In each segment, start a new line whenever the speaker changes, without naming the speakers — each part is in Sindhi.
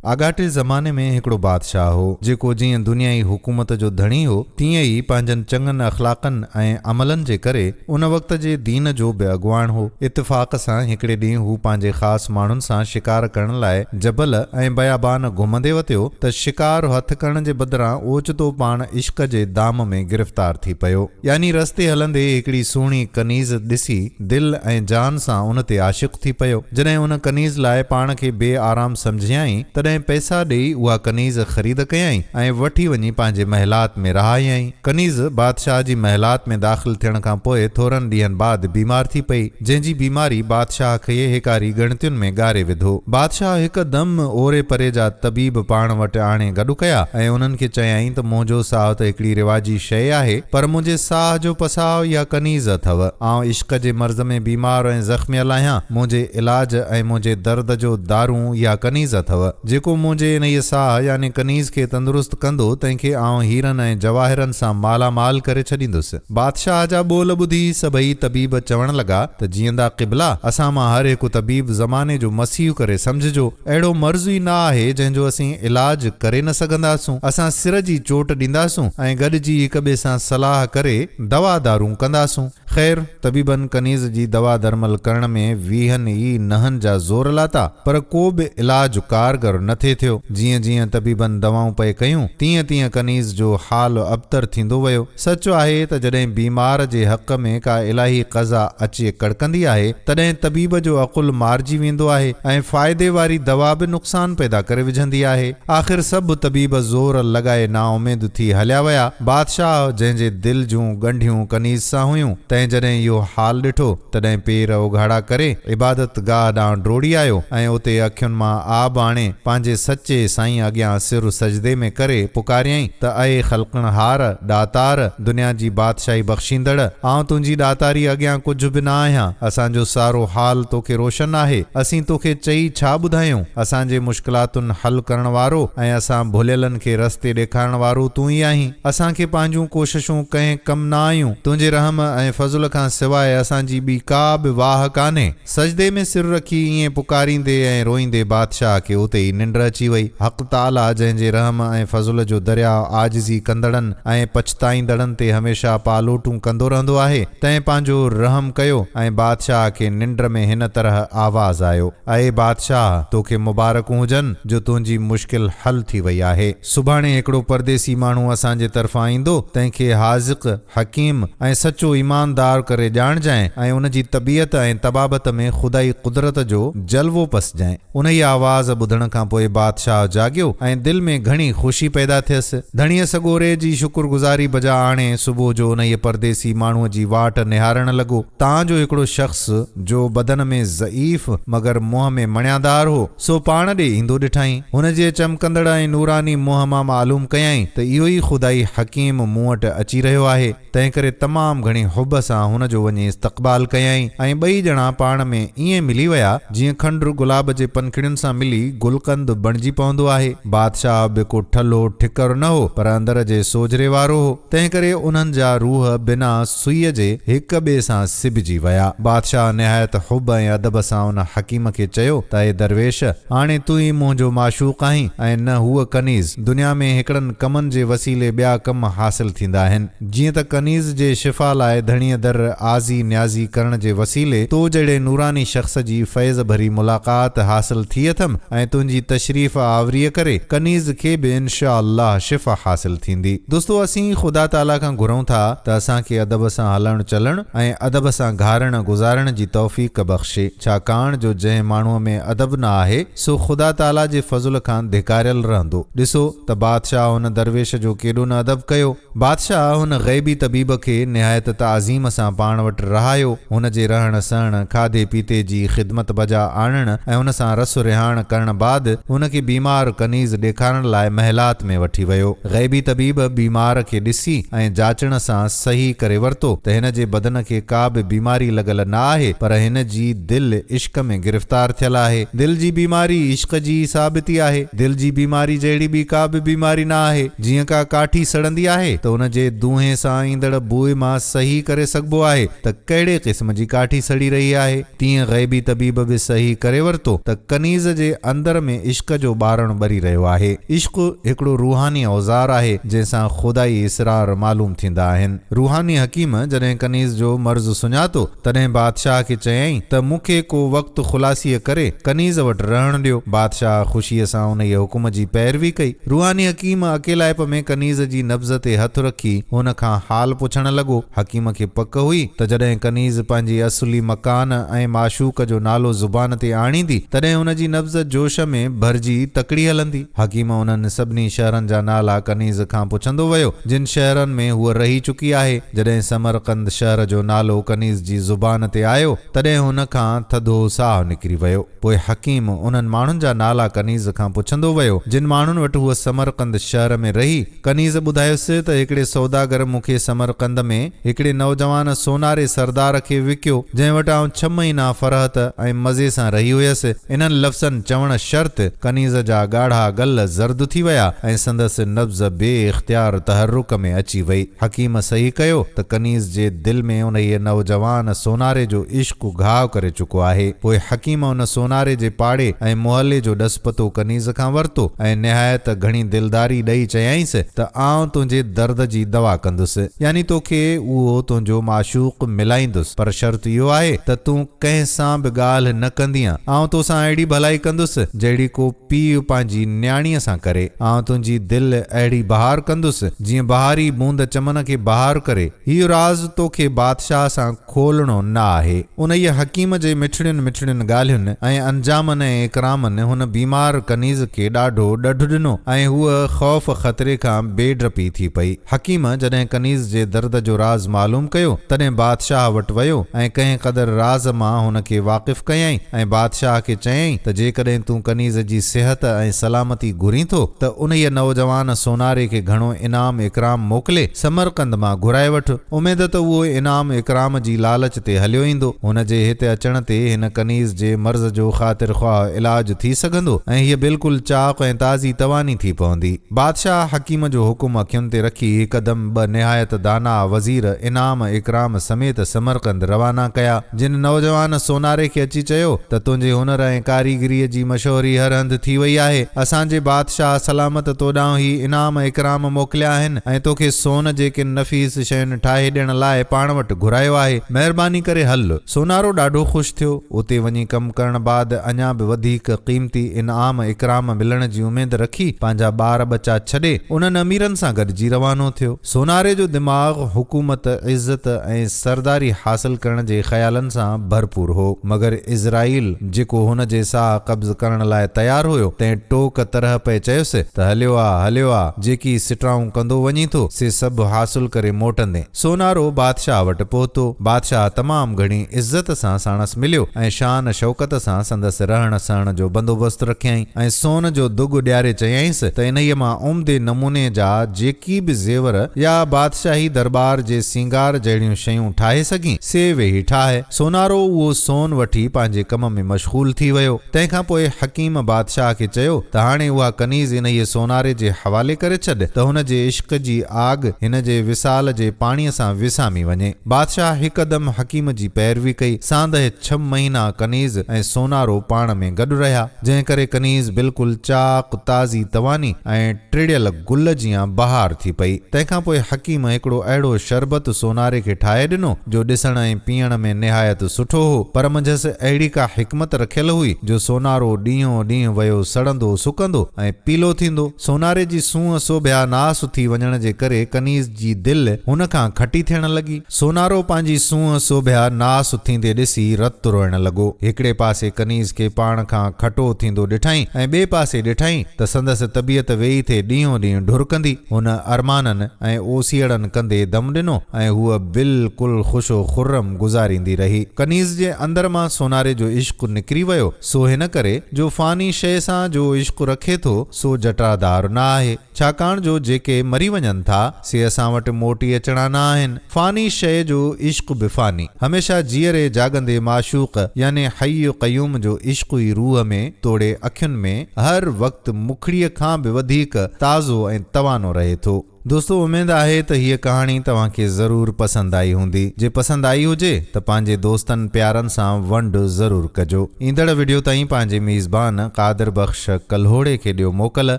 آڳاٽي زماني ۾ هڪڙو بادشاهه هو، جيڪو جيئن دنيائي حڪومت جو ڌڻي هو، تيئن ئي پنهنجن چڱن اخلاقن ۽ عملن جي ڪري ان وقت جي دين جو به اڳواڻ هو. اتفاق سان هڪڙي ڏينهن هو پنهنجي خاص ماڻهن سان شڪار ڪرڻ لاء جبل ۽ بيابان گهمندي وتيو ته شڪار هٿ ڪرڻ جي بدران اوچتو پاڻ عشق جي دام ۾ گرفتار ٿي پيو. يعني رستي هلندي هڪڙي سهڻي ڪنيز ڏسي دل ۽ جان سان ان تي عاشق ٿي پيو. جڏهن ان ڪنيز لاء پاڻ کي بي آرام سمجهيائين، تڏهن پئسا ڏيئي اها ڪنيز خريد ڪيائين ۽ وٺي وڃي پنهنجي محلات ۾ رهايائين. ڪنيز بادشاهه جي محلات ۾ داخل ٿيڻ کان پوء ٿورن ڏينهن بعد بيمار ٿي پئي. جنهن جي بيماري بادشاهه کي هيڪاري ڳڻتين ۾ ڳاري وڌو. بادشاهه هڪدم اوري پري جا طبيب پاڻ وٽ آڻي گڏ ڪيا ۽ انهن کي چيائين ته منهنجو ساهه ته هڪڙي رواجي شيء آهي پر منهنجي ساهه جو پساء يا ڪنيز اٿئو. آئون عشق جي مرض ۾ بيمار ۽ زخميل آهيان، منهنجي علاج ۽ منهنجي درد جو دارو يا ڪنيز اٿئو؟ جيڪو منهنجي انهيء ساهه يعني ڪنيز کي تندرست ڪندو تنهن کي آئون هيرن ۽ جواهرن سان مالا مال ڪري ڇڏيندس. بادشاهه جا ٻول ٻڌي سڀئي طبيب چوڻ لڳا ته جيئندا قبلا! اسان مان هر هڪ طبيب زماني جو مسيح ڪري سمجهجو. اهڙو مرض ئي نه آهي جنهن جو اسين علاج ڪري نه سگهنداسون. اسان سر جي چوٽ ڏينداسون ۽ گڏجي هڪ ٻئي سان صلاح ڪري دوا دارون ڪنداسون. خير طبيبن ڪنيز جي دوا درمل ڪرڻ ۾ ويهن ئي نهن جا زور لاتا پر ڪو به علاج ڪارگر نه ٿي ٿيو. جيئن جيئن طبيبن دوائون پئي ڪيون تيئن تيئن ڪنيز جو حال ابتر ٿيندو ويو. سچ آهي ته جڏهن بيمار جي حق ۾ ڪا الاهي قضا اچي ڪڙڪندي آهي، تڏهن طبيب جو عقل مارجي ويندو آهي ۽ فائدي واري دوا به نقصان پيدا ڪري وجهندي آهي. آخر سڀ طبيب زور لڳائي نااميد ٿي هليا ويا. بادشاهه، جنهن جي دل جون ڳنڍيون ڪنيز سان هيون، تنهن جڏهن اهو حال ڏٺو، تڏهن پير اوگهاڙا ڪري، عبادت گاهه ڏانهن ڊوڙي آيو ۽ اتي اکين مان آب آڻي، پنهنجي سچي سائين اڳيان سر سجدي ۾ ڪري پڪاريائين، ته اي خلقڻهار، ڏاتار، دنيا جي بادشاهي بخشيندڙ، آئون تنهنجي ڏاتاري اڳيان ڪجهه به نه آهيان، اسان جو سارو حال توکي روشن آهي، اسين توکي چئي ڇا ٻڌايون، اسان جي مشڪلاتن حل ڪرڻ وارو ۽ اسان ڀليلن کي رستي ڏيکارڻ وارو تون ئي آهين، اسان کي پنهنجون ڪوششون ڪنهن ڪم نه آيون، تنهنجي رحم ۽ فضل کان سواء اسان جي ٻي ڪا به واهه ڪانهي. سجدي ۾ سر رکي ائين پڪاريندي ۽ روئيندي بادشاهه کي اتي ئي ننڊ اچي وئي. حق تعاليٰ جنهن جي رحم ۽ فضل جو درياء عاجزي ڪندڙن ۽ پڇتائيندڙن تي هميشه پالوٽون ڪندو رهندو آهي، تنهن پنهنجو رحم ڪيو ۽ بادشاهه کي ننڊ ۾ هن طرح آواز آيو، اي بادشاهه! تو کي مبارڪون هجن جو تنهنجي مشڪل حل ٿي وئي آهي. سڀاڻي هڪڙو پرديسي ماڻهو اسان جي طرفان ايندو، تنهن کي حاذق، حڪيم ۽ سچو ايماندار ڪري ڄاڻجانء ۽ ان جي طبيعت ۽ طبابت ۾ خدائي قدرت جو جلوو پسجانء. انهيء آواز ٻڌڻ کان پوء بادشاهه جاڳيو ۽ دل ۾ گهڻي خوشي پيدا ٿيس. ڌڻيء سڳوري جي شڪر گذاري بجا آڻي صبح جو انهيء پرديسي ماڻهوء جي واٽ نهارڻ لڳو، تان جو هڪڙو شخص، جو بدن ۾ ضعيف مگر منهن ۾ مڻيادار هو، سو پاڻ ڏي ايندو ڏٺائين. هن جي چمڪندڙ ۽ نوراني منهن مان معلوم ڪيائين ته اهو ئي خدائي حڪيم مون وٽ اچي رهيو آهي. تنهنڪري تمام گهڻي حب سان هن جو وڃي استقبال ڪيائين ۽ ٻئي ڄڻا پاڻ ۾ ائين ملي ويا جيئن کنڊر گلاب جي پنکڙين سان ملي گلقند بڻجي پوندو آهي. بادشاهه به ڪو ٺلهو ٺڪر نه هو پر اندر جي سوجهري وارو هو. تنهنڪري انهن جا روح بنا سوئيء جي هڪ ٻئي سان سبجي ويا. بادشاهه نهايت حب ۽ ادب سان ان حڪيم کي چيو ته اي درويش! هاڻي تون ئي منهنجو معشوق آهين ۽ نه هوء ڪنيز. دنيا ۾ هڪڙن ڪمن جي وسيلي ٻيا ڪم حاصل ٿيندا آهن. جيئن ته ڪنيز جي شفا لاء ڌڻيء در آزي نيازي ڪرڻ جي وسيلي تو جهڙي نوراني شخص جي فيض ڀري ملاقات حاصل ٿي اٿم ۽ تنهنجي تشريف آوريء ڪري ڪنيز کي به انشاء الله شفا حاصل ٿيندي. دوستو اسين خدا تعاليٰ کان گهرون ٿا ته اسان کي ادب سان هلڻ چلڻ ۽ ادب سان گهارڻ گذارڻ جي توفيق بخشي ڇاڪاڻ جو جنهن ماڻهوء ۾ ادب نه آهي سو خدا تعاليٰ جي فضل کان ڌڪاريل رهندو ڏسو ته بادشاهه هن درويش جو ڪيڏو نه ادب ڪيو بادشاهه هن غيبي طبيب کي نهايت تعظيم سان پاڻ وٽ رهايو هن جي رهڻ سهڻ، کاڌي پيتي جي خدمت بجا آڻڻ ۽ هن سان رس رهاڻ ڪرڻ بعد هن کي بيمار ڪنيز ڏيکارڻ لاء محلات ۾ وٺي ويو. غيبي طبيب بيمار کي ڏسي ۽ جاچڻ سان صحيح ڪري ورتو ته هن جي بدن کي ڪا به بيماري لڳل نه آهي پر هن جي دل عشق ۾ گرفتار ٿيل آهي. دل جي بيماري عشق جي ئي ثابتي آهي. دل جي بيماري جهڙي ٻي ڪا به بيماري نه آهي. جيئن ڪا ڪاٺي سڙندي آهي ته ان جي دونهين سان ايندڙ بوء مان صحيح ڪري سگهبو آهي ته ڪهڙي قسم جي ڪاٺي سڙي رهي آهي. تيئن غيبي طبيب به صحيح ڪري ورتو ته ڪنيز جي اندر ۾ عشق جو ٻارڻ ٻري رهيو آهي. عشق هڪڙو روحاني اوزار آهي، جنهن سان خدائي اسرار معلوم ٿيندا آهن. روحاني حڪيم جڏهن ڪنيز جو مرض سڃاتو تڏهن بادشاهه کي چيائين ته مون کي ڪو وقت خلاصيء ڪري ڪنيز وٽ رهڻ ڏيو. بادشاهه خوشيء سان انهيء حڪم جي پيروي ڪئي. روحاني حڪيم اڪيلائپ ۾ ڪنيز جي نبض تي هٿ رکي هن کان حال پڇڻ لڳو. حڪيم کي پڪ هئي ته جڏهن ڪنيز پنهنجي اصلي مڪان ۽ معشوق جو نالو زبان تي آڻيندي تڏهن هن جي نبض جوش ۾ ڀرجي تڪڙي هلندي. حڪيم انهن سڀني شهرن جا نالا ڪنيز کان پڇندو ويو جن شهرن ۾ هوء رهي چڪي آهي. جڏهن سمرقند شهر جو نالو ڪنيز جي زبان تي آيو، تڏهن هن کان ٿڌو ساهه نڪري ويو. پوء حڪيم انهن ماڻهن جا نالا ڪنيز کان پڇندو ويو، جن ماڻهن وٽ هوء سمرقند شهر ۾ رهي. ڪنيز ٻڌايس ته هڪڙي سوداگر مون کي سمرقند ۾ هڪڙي نوجوان سوناري سردار کي وڪيو، جنهن وٽ آئون ڇهه مهينا فرحت ۽ مزي سان رهي هيس. انهن لفظن چوڻ شرط ڪنيز جا ڳاڙها ڳل زرد ٿي ويا ۽ سندس نبض بي اختيار تحرڪ ۾ اچي وئي. حڪيم صحيح ڪيو ته ڪنيز جي دل ۾ انهيء نوجوان سوناري جو عشق گهاء ڪري چڪو آهي. پوء حڪيم ان سوناري جي پاڙي ۽ محلي جو ڏس پتو ڪنيز کان ورتو ۽ نهايت گهڻي دلداري ڏئي چيائينس ته آئون تنهنجي درد جي دوا ڪندس يعني توکي اهو تنهنجو معشوق ملائيندس پر شرط اهو آهي ته تون ڪنهن سان به ڳالهه نه ڪندينء، آئون تو سان اهڙي ڀلائي ڪندس، جهڙي ڪو پيء پنهنجي نياڻيء سان ڪري. آئون تنهنجي دل اهڙي بهار ڪندس، جيئن بهاري بوند چمن کي بهار ڪري. هيء راز توکي بادشاهه سان کولڻو نه آهي. انهيء حڪيم جي مٺڙين مٺڙين ڳالهين ۽ انجامن ۽ اڪرامن هن بيمار ڪنيز کي ڏاڍو ڏڍ ڏنو ۽ هوء خوف خطري کان بي ڊپي ٿي پئي. حڪيم جڏهن ڪنيز جي درد جو راز معلوم ڪيو، تڏهن بادشاهه وٽ ويو ۽ ڪنهن قدر راز مان هن کي واقف ڪيائين ۽ بادشاهه کي چيائين ته جيڪڏهن تون ڪنيز جي صحت ۽ سلامتي گهرين ٿو ته انهيء نوجوان سوناري کي گهڻو انعام اڪرام موڪلي سمرقند مان گهرائي وٺ. اميد ته اهو انعام اڪرام جي لالچ تي هليو ايندو. هن جي هت اچڻ تي هن ڪنيز جي مرض جو خاطر خواهه علاج ٿي سگهندو ۽ هيء بلڪل چاق ۽ تازي تواني ٿي پوندي. بادشاهه حڪيم جو حڪم اکين تي رکي هڪدم ٻه نهايت داناء وزير انعام اڪرام سميت سمرقند روانا ڪيا. جن نوجوان سوناري کي اچي چيو ته تنهنجي هنر ۽ ڪاريگريء جي مشهوري هر هنڌ ٿي وئي آهي. اسان جي بادشاهه سلامت تو ڏانهن هي انعام اڪرام موڪليا آهن ۽ توکي سون جي ڪن نفيس شين ٺاهي ڏيڻ لاء پاڻ وٽ گهرايو آهي. مهرباني ڪري هل. سونارو ڏاڍو خوش ٿيو. اتي وڃي ڪم ڪرڻ بعد اڃا به وڌيڪ قيمتي انعام اڪرام ملڻ جي اميد رکي پنهنجا ٻار ٻچا ڇڏي انهن اميرن سان گڏجي روانو ٿيو. سوناري جو دماغ حڪومت، عزت ۽ سرداري حاصل ڪرڻ جي خيالن سان ڀرپور هو مگر عزرائيل جيڪو هن جي ساهه قبض ڪرڻ لاء تيار هيو تنهن ٽوڪ طرح پئي چيس ته هليو آ هليو آ جيڪي سٽرائون ڪندو وڃين ٿو سي سڀ حاصل ڪري موٽندين. سونارو بادشاهه وٽ پهتو. بادشاهه تمام گهڻي عزت سان ساڻس مليو ۽ شان شوڪت سان سندس رهڻ سهڻ جو بندوبست رکيائين ۽ سون جو دڳ ڏياري چيائينس ته انهيء مان عمدي نموني جا جيڪي به زيور يا بادشاهي درٻار جي سينگار جهڙيون شيون ٺاهي سگهين، سي ويهي ٺاهه. سونارو اهو سون وٺي پنهنجي ڪم ۾ مشغول ٿي ويو. تنهن کان پوء حڪيم بادشاهه کي چيو ته هاڻي اها ڪنيز انهيء سوناري جي حوالي ڪري ڇڏ ته هن جي عشق جي آڳ هن جي وصال جي پاڻيء سان وسامي وڃي. بادشاهه هڪدم حڪيم جي پيروي ڪئي. ساندهه ڇهه مهينا ڪنيز ۽ سونارو پاڻ ۾ گڏ رهيا، جنهن ڪري ڪنيز بلڪل چاق، تازي تواني ۽. ٽڙيل گل جيان بهار ٿي پئي. تنهن کان پوء حڪيم هڪڙو اهڙو شربت سوناري کي ٺاهي ڏنو، جو ڏسڻ ۽ پيئڻ ۾ نهايت سٺو هو، پر منجهس اهڙي ڪا حڪمت رکيل هئي، جو سونارو ڏينهون ڏينهن ويو سڙندو سڪندو ۽ پيلو ٿيندو. سوناري جي سونهن سوڀيا ناس ٿي وڃڻ جي ڪري ڪنيز جي دل هن کان کٽي ٿيڻ لڳي. سونارو پنهنجي سونهن سوڀيا ناس اٿيندي ڏسي رت روئڻ لڳو. هڪڙي پاسي ڪنيز کي پاڻ کان کٽو اٿيندو ڏٺائين ۽ ٻئي پاسي ڏٺائين ته سندس طبيعت ويئي ٿي ڏينهون ڏينهن ڍرڪندي. هن ارمانن ۽ اوسيئڙن ڪندي دم ڏنو ۽ هوء بلڪل خوش و خرم گذاريندي رهي. ڪنيز جي اندر مان سوناري جو عشق نڪري ويو، سو هن ڪري جو فاني شيء سان جو عشق رکي ٿو، سو جٽرادار نه آهي. ڇاڪاڻ جو جيڪي مري وڃن ٿا، سي اسان وٽ موٽي اچڻا نه آهن. فاني شيء جو عشق به فاني. هميشه جيئري جاڳندي معشوق يعني حي قيوم جو عشق ئي روح ۾ توڙي اکين ۾ هر وقت مکڙيء کان به وڌيڪ تازو ۽ توانو رهي ٿو. دوستو اميد آهي ته هيء ڪهاڻي توهان کي ضرور پسند آئي هوندي. جي پسند آئي هجي ته پنهنجي دوستن پيارن سان ونڊ ضرور ڪجو. ايندڙ وڊيو تائين پنهنجي ميزبان قادر بخش ڪلهوڙي کي ڏيو موڪل.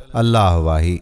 الله واهي.